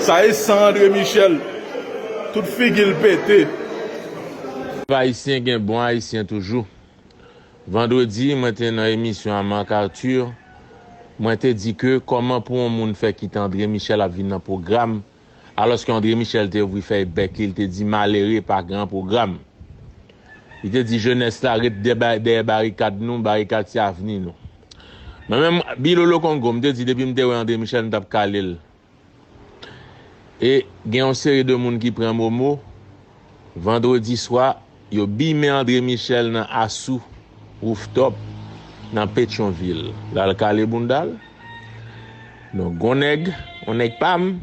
Sa e san andre michel tout figil pete. Viv ayisyen gen bon ayisyen toujou Vandredi mwen te nan emisyon a Marc Arthur mwen te di ke kòman pou on moun fè kite André Michel ap vin nan pwogram alòske André Michel te ouvri fèy bèk li li te di malere pa gran pwogram li te di jenès la ret dèyè barikad nou barikad se avni nou. Mwen menm Bilolo Kongo m te di depi m te wè André Michel m tap kale l e gen yon seri de moun ki pran momo vandredi swa yo bimen André Michel nan Asou Rooftop nan Petyonvil lal kale bounda l donk gon nèg yon nèg pa m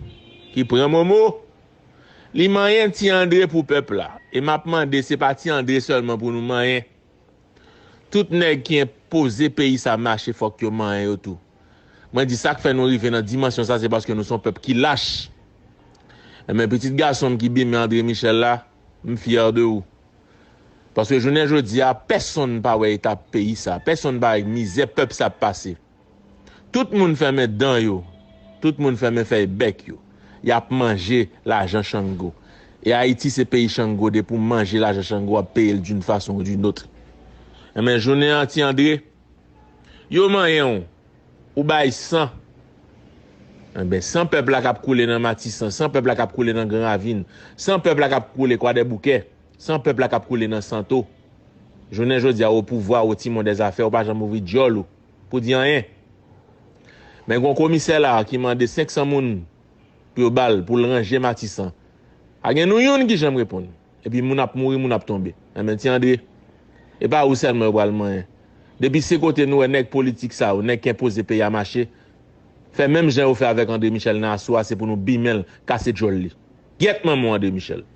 ki pran momo li manyen ti André pou pèp la e map mande se pa ti André sèlman pou nou manyen. Tout nèg ki enpoze peyi sa mache fòk yo manyen yo tou. Mwen di sak fè nou rive nan dimansyon sa se paske nou son pèp ki lach. Enben pitit gason m ki bimen Andre Michel la, m fyè de ou. Paske jounen jodi a pèsonn pa wè eta peyi sa, pèsonn pa wè mizè pèp sa ap pase. Tout moun fèmen dan yo, tout moun fèmen fèy bèk yo. Yap manje lajan Chango. E Ayiti se peyi Chango depi w manje lajan Chango wap peye l d'une façon ou d'une autre. Enben jounen an Ti Andre, yo manyen w, ou bay san. Enben san pèp la kap koule nan Matisan, san pèp la kap koule nan Gran Ravin, san pèp la kap koule Kwadèboukè, san pèp la kap koule nan Santo. Jounen jodi a w opouvwa, w timon dèzafè, w pa janm ouvri dyòl ou. pou di anyen. Men gon komisè la ki mande 500 moun pou yo bal pou l ranje matisan. Pa gen nou youn ki janm reponn. Epi moun ap mouri moun ap tonbe. Enben ti Andre, e pa ou sèlman yo pral manyen. Depi se kote nou wè nèg politik sa yo, nèg k enpoze peyi a mache, fè menm jan yo fè avèk Andre Michel nan aso a se pou nou bimen l, kase djòl li. Gyèt manman w Andre Michel.